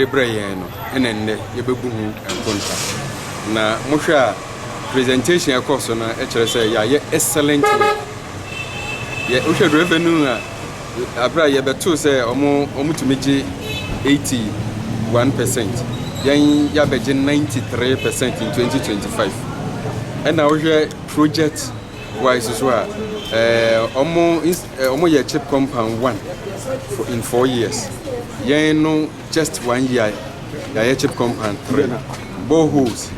de brɛɛ yɛn no na nnɛ yɛbɛbu ho nkonta. Na mohwɛ a presentation a ɛkɔɔ so no kyerɛ sɛ yɛayɛ excellent work. Yɛ wohwɛ revenue a aberɛ a yɛbɛtoo sɛ ɔmo ɔmo tumi gye 81 percent yɛn yɛabɛgye 93 percent in 2025 ɛna wohwɛ project Why so so a eh, omo ins, eh, omo yɛ chip compound one for in four years. Yɛn no just one year yɛayɛ chip compound three. Boreholes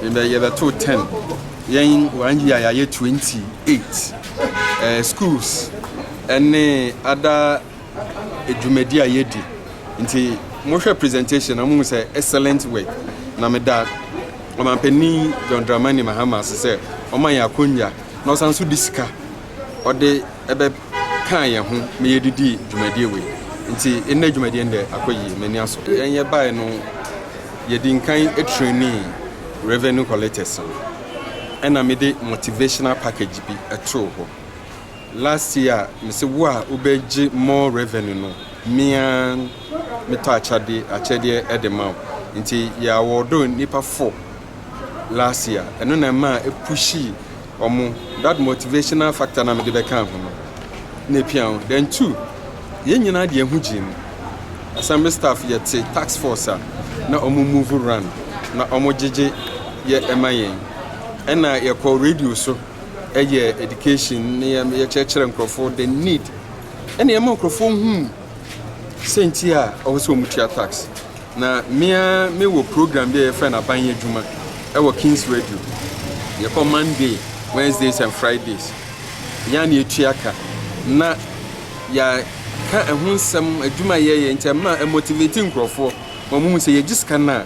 yɛbɛ yɛbɛto ten. Yɛn one year yɛayɛ twenty eight. Eh, schools ɛne other dwumadi a yɛadi nti mohwɛ presentation na mohu sɛ excellent work na meda ɔmampanin john dramani mahama ase sɛ ɔma yɛn akonnwa na ɔsan nso de sika ɔde ɛbɛkaa yɛn ho ma yɛdidi dwumadie wei nti ɛnna dwumadie no dɛ akɔ yie m'ani aso yɛn yɛ bae no yɛdi nkan trani revenue collectors no ɛna mede motivational package bi ɛtoo hɔ Last year mese wo a wobɛ gye more revenue no me ara me tɔ akyɛde akyɛdeɛ ɛde ma wo nti yɛ awɔɔdo nipa four last year ɛno na ɛma ɛpushi ɔmo that motivational factor na mede bɛka ho no na ɛpia ho then two yɛn nyinaa deɛ ho gyee mu assembly staff yɛte tax force a na ɔmo move run na ɔmo gyegye yɛ ɛma yɛn ɛna yɛkɔ radio so yɛ education ne yɛkyerɛkyerɛ nkurɔfoɔ the need ɛna ɛma nkurɔfoɔ hu sɛ nti a ɔwɔ sɛ wɔn tua tax na mmea mewɔ program bi a yɛfrɛ no aban adwuma ɛwɔ Kings Radio yɛkɔ Monday Wednesdays and Fridays yɛn na yɛtua ka na yɛka ɛho nsɛm adwuma yɛyɛ nti ɛma ɛmotivate nkurɔfoɔ wɔn mu sɛ yɛgye sika no a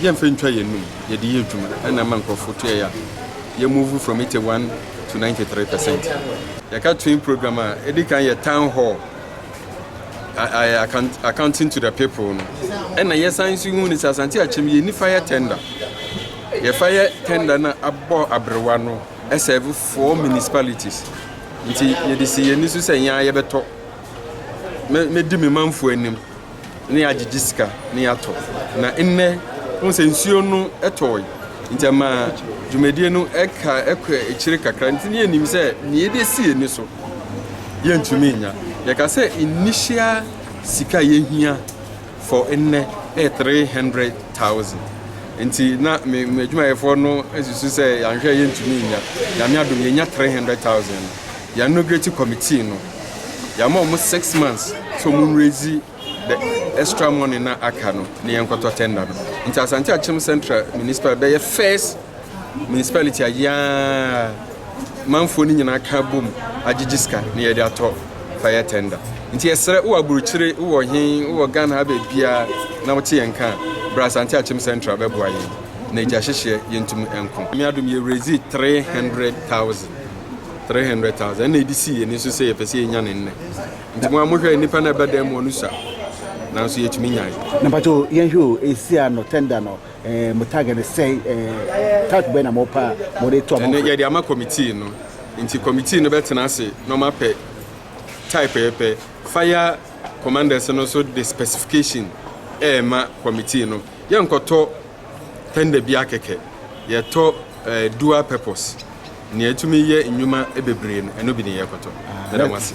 Yɛmfa ntwa yɛnnom, yɛde yɛ adwuma ɛna ɛma nkorɔfoɔ tua yɛ ano. Yɛ move from eighty one to ninety three percent. Yɛka twin program a, ɛdi kan yɛ town hall, ayɛ accounting to the people no, ɛna yɛsan nso hu no sɛ Asante Akyem yɛnni fire tender. Yɛ fire tender no abɔ abrewa no ɛsɛɛve four municipalities. Nti yɛde si yɛn ani so sɛ yɛn ara yɛbɛtɔ, mɛdi me manfoɔ anim. na yɛagyegye sika na yɛatɔ. Na nnɛ, wohu sɛ nsuo no tɔɔe, nti ɛma dwumadie no ɛka ɛkɔ akyire kakra. Nti ne yɛnim sɛ nea yɛde asi ani so yɛntumi nnya. Yɛka sɛ initial sika a yɛhia for nnɛ ɛyɛ 300,000. Nti na me me adwumayɛfoɔ no susu sɛ yɛanhwɛ yɛntumi nnya. Nyame adom yɛnya 300,000 no. Yɛanograti committee no. yɛama ɔmo six months sɛ ɔmo nrezi the extra money na aka no na yɛnkɔtɔ tender no nti asante akyem central municipal bɛyɛ first municipality a yɛa manfoɔ no nyinaa ka bom agyegye sika na yɛde atɔ fire tender nti yɛsrɛ wowɔ aburokyire wowɔ he wowɔ ghana ha baabiaa na wote yɛn ka bra asante akyem central bɛboa yɛn na agya hyehyeɛ yɛntumi nko me adom yɛrezi 300000 three hundred thousand ɛna edi si yɛn ani so sɛ yɛpɛ sɛ yɛnya ne nnɛ nti mo a mohwɛ nnipa na ɛbɛdan mu ɔno sua nanso yɛtumi nyae. na mpakyɛ o yɛnhwɛ o ɛsi a no tender no eh, mo target no sɛ eh, type bɛn na mo pa a mo de to amanfo. ɛne yɛde ama committee no nti committee no bɛtena ase na ɔma pɛ type yɛpɛ fire commanders no so de specification ɛɛma committee no yɛnkɔtɔ tender bi akɛkɛ yɛtɔ eh, dual purpose. Nea etumi yɛ nnwuma bebree no, ɛno bi ne yɛrekɔtɔ. Yɛda mo ase.